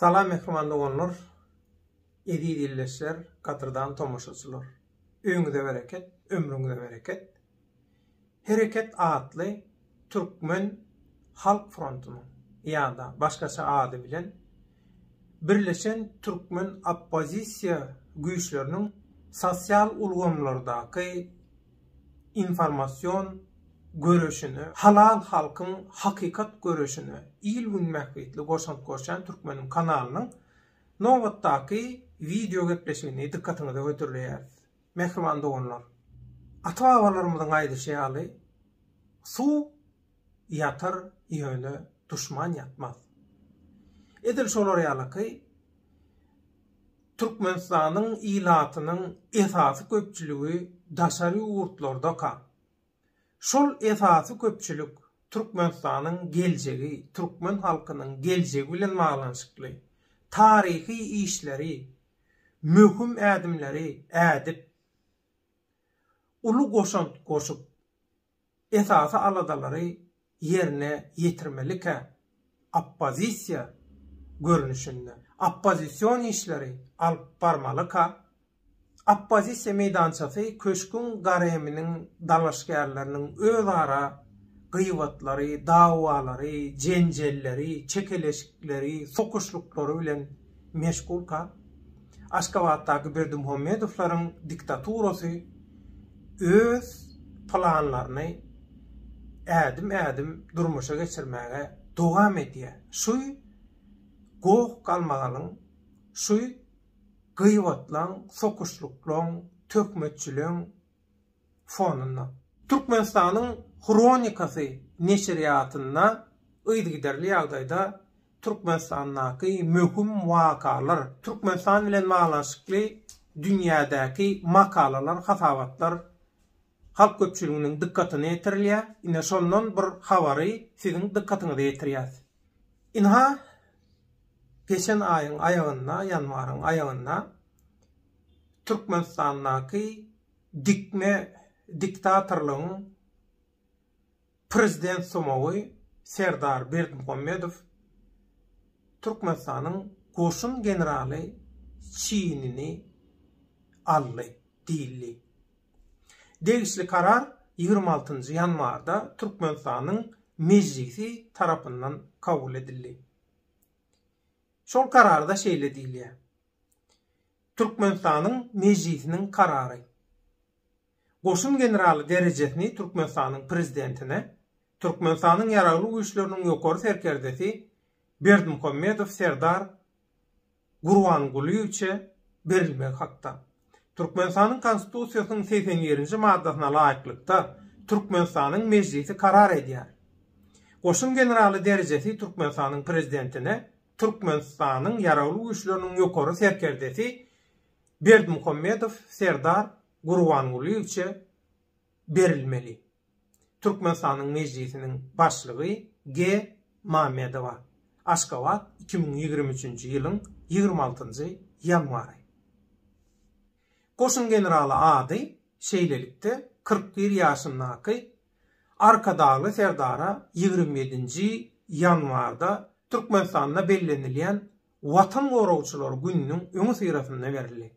Salam mähriban doganlar, eziz ildeşler, gadyrdan tomaşaçylar! Öýüňize bereket, ömrüňize bereket! Hereket atly Türkmen halk frontunyň ýa-da başgaça ady bilen Birleşen türkmen oppozisiýa güýçleriniň sosial ulgamlardaky informasion göreşine, halal halkyň hakykat göreşine il-gün bähbitli goşant goşýan Türkmeniň kanalynyň nobatdaky wideo gepleşigini dykgatyňyza hödürleýäris. Mähriban doganlar! Ata-babalarymyzyň aýdyşy ýaly, Suw ýatar, ýöne duşman ýatmaz. Edil şolar ýalyky, Türkmenistanyň ilatynyň esasy köpçüligi daşary ýurtlardaka. Şol esasy köpçülik Türkmenistanyň geljegi, türkmen halkynyň geljegi bilen baglanyşykly taryhy işleri, möhüm ädimleri ädip, uly goşant goşup, Esasy aladalary ýerine ýetirmelikä oppozisiýa görnüşinde oppozision işleri alyp barmalyka? Oppozisiýa meýdançasy köşgüň gareminiň dalaşgärleriniň özara gybatlary, dawalary, jenjelleri, çekeleşikleri, sokuşlyklary bilen Meşgulka, Aşgabatdaky Berdimuhamedowlaryň diktaturasy öz planlaryny ädim-ädim durmuşa geçirmäge dowam edýär. Şu goh-galmagalyň, şu gyýbatlaň, sokuşlyklaň, töhmetçiligiň fonunda, Türkmenistanyň Hronikasy neşirýatynda yzygiderli ýagdaýda Türkmenistandaky möhüm wakalar, Türkmenistan bilen baglanyşykly dünýädäki makalalar, hasabatlar halk köpçüliginiň dykgatyna ýetirilýär. Ine, şondan bir habary siziň dykgatyňyza ýetirýäs. Ynha, geçen aýyň aýagynda, ýanwaryň aýagynda Türkmenistandaky, Dikme diktatorlygyň prezident sumagy Serdar Berdimuhamedow Türkmenistanyň goşun generaly çinini aldy diýildi. Degişli karar ýigrimi altynjy ýanwarda Türkmenistanyň Mejlisi tarapyndan kabul edildi. Şol kararda şeýle diýilýär, Türkmenistanyň Mejlisiniň karary Goşun generaly derejesini Türkmenistanyň Prezidentine Türkmenistanyň Ýaragly Güýçleriniň Ýokary Serkerdesi Berdimuhamedow Serdar Gurbangulyýewiçe berilmegi hakda Türkmenistanyň Konstitusiýasynyň segsen birinji maddasyna laýyklykda, Türkmenistanyň Mejlisi karar edýär. Goşun generaly derejesi Türkmenistanyň Prezidentine Türkmenistanyň Ýaragly Güýçleriniň ýokary serkerdesi Berdimuhamedow Serdar Gurbangulyýewiçe berilmeli. Türkmenistanyň Mejlisiniň Başlygy G. Mamedowa, Aşgabat, iki müň ýigrimi üçünji ýylyň ýigrimi altynjy ýanwary. Goşun generaly ady şeýlelikde, kyrk bir ýaşyndaky Arkadagly serdara ýigrimi ýedinji ýanwarda Türkmenistanda bellenilýän Watan goragçylary gününiň öňüsyrasynda berildi.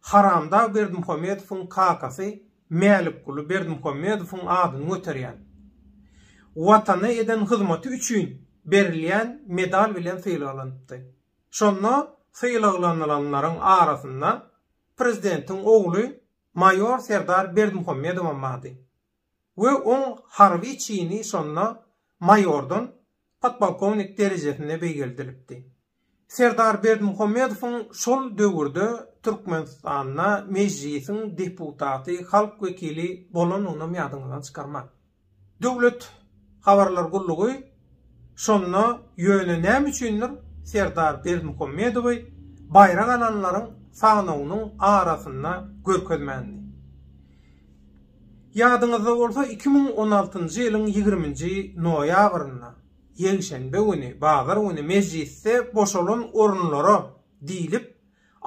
Haramdag Berdimuhamedowyň kakasy Mälikguly Berdimuhamedowyň adyny göterýän, Watana eden hyzmaty üçin berilýän medal bilen sylaglanypdy. Şonda sylaglanylanlaryň arasynda prezidentiň ogly maýor Serdar Berdimuhamedowam bardy. we oň harby çini şonda maýordan podpolkownik derejesine beýgeldilipdi. Serdar Berdimuhamedowyň şol döwürde Türkmenistanda Mejlisiň deputaty, halk wekili bolanynam ýadyňyzdan çykarmaň. Döwlet habarlar gullugy. Şonda ýöne näme üçindir Serdar Berdimuhamedowy baýrak alanlaryň sanawynyň arasynda görkezmändi. Ýadyňyzda bolsa iki müň on altynjy ýylyň ýigriminji noýabrynda, ýekşenbe güni, bazar güni mejlisde boşalan orunlara diýlip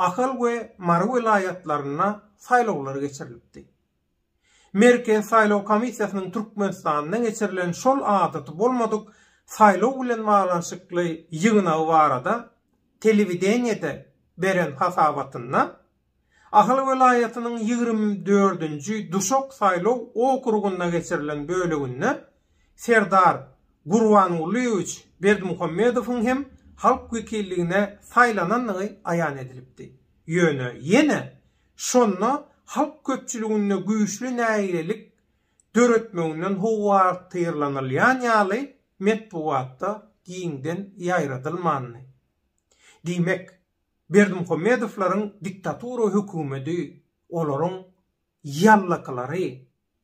Ahal we Mary welaýatlarynda saýlawlar geçirilipdi. Merkezi saýlaw komissiýasynyň Türkmenistanda geçirilen şol adaty bolmadyk saýlaw bilen baglanyşykly ýygnagy barada telewideniýede beren hasabatynda, Ahal welaýatynyň ýigrimi dördünji Duşak saýlaw okrugynda geçirilen böleginde Serdar Gurbangulyýewiç Berdimuhamedowyň hem halk wekilligine saýlanandygy aýan edilipdi. Ýöne ýene Şonda halk köpçüliginde güýçli nägilelik döretmeginden howatyrlanylýan ýaly metbugatda giňden ýaýradylmandy. Diýmek, Berdimuhamedowlaryň diktatura hökümedi olaryň ýallakylary,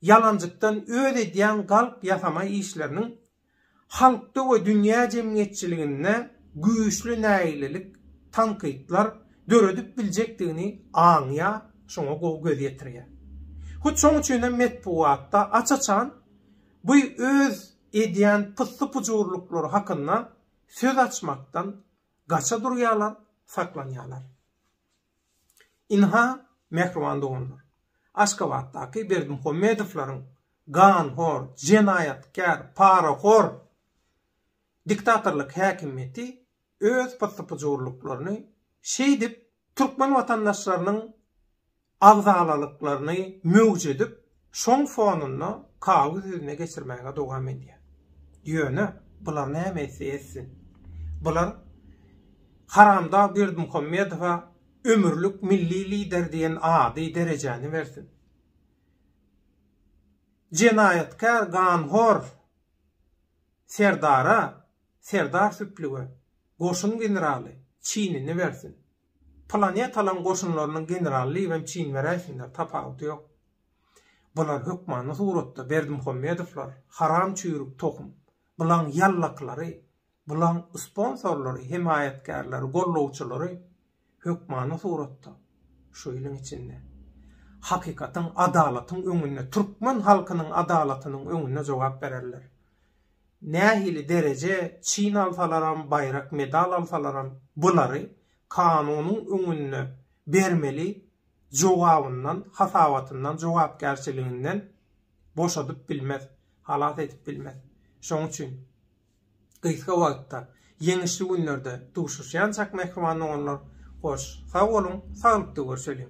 ýalanjykdan öz edýän galp ýasama işleriniň halkda we dünýä jemgyýetçiliginde güýçli nägilelik, tankytlar, döredip biljekdigini aňýar, şoňa gowy göz ýetirýär. Hut şoň üçin hem metbugatda aç-açan bu öz edýän pyssy-pujurlyklary hakynda söz açmakdan gaça durýarlar, saklanýarlar. Ynha, mähriban doganlar, Aşgabatdaky Berdimuhamedowlaryň ganhor, jenaýatkär, parahor diktatorlyk häkimiýeti öz pyssy-pyjurlyklaryny şeýdip türkmen watandaşlarynyň agzalalyklaryny möwjedip, Şoň fonunda Kawy sözüne geçirmäge dowam edýär. Ýöne, bular näme etse etsin. Bular haramdag Berdimuhamedowa ömürlik milli lider diýen ady, derejäni bersin. Jenaýatkär, ganhor Serdara, Serdar Süplüge goşun generaly çinini bersin. Planetalaryň goşunlarynyň generaly Liwen Çin we Rähimler, tapawudy ýok. Bular hökmany suratda Berdimuhammedowlar, haram çüýrük tohum. Bulaň ýallaklary, bulaň sponsorlary, hemaýatkärleri, gollawçylary hökmany suratda şu iliň içinde. Hakykatyň, adalatyň öňünde, türkmen halkynyň adalatynyň öňünde jogap bererler. Nähili dereje çyn alsalaram baýrak medal alsalaram bulary kanunyň öňünde bermeli jogabyndan hasabatyndan jogapkärçiliginden boşadyp bilmez halas edip bilmez şoň üçin gysga wagtda Ýeňişli günlerde duşuşýançak mähriban doganlar hoş sag boluň saglykda görşeliň.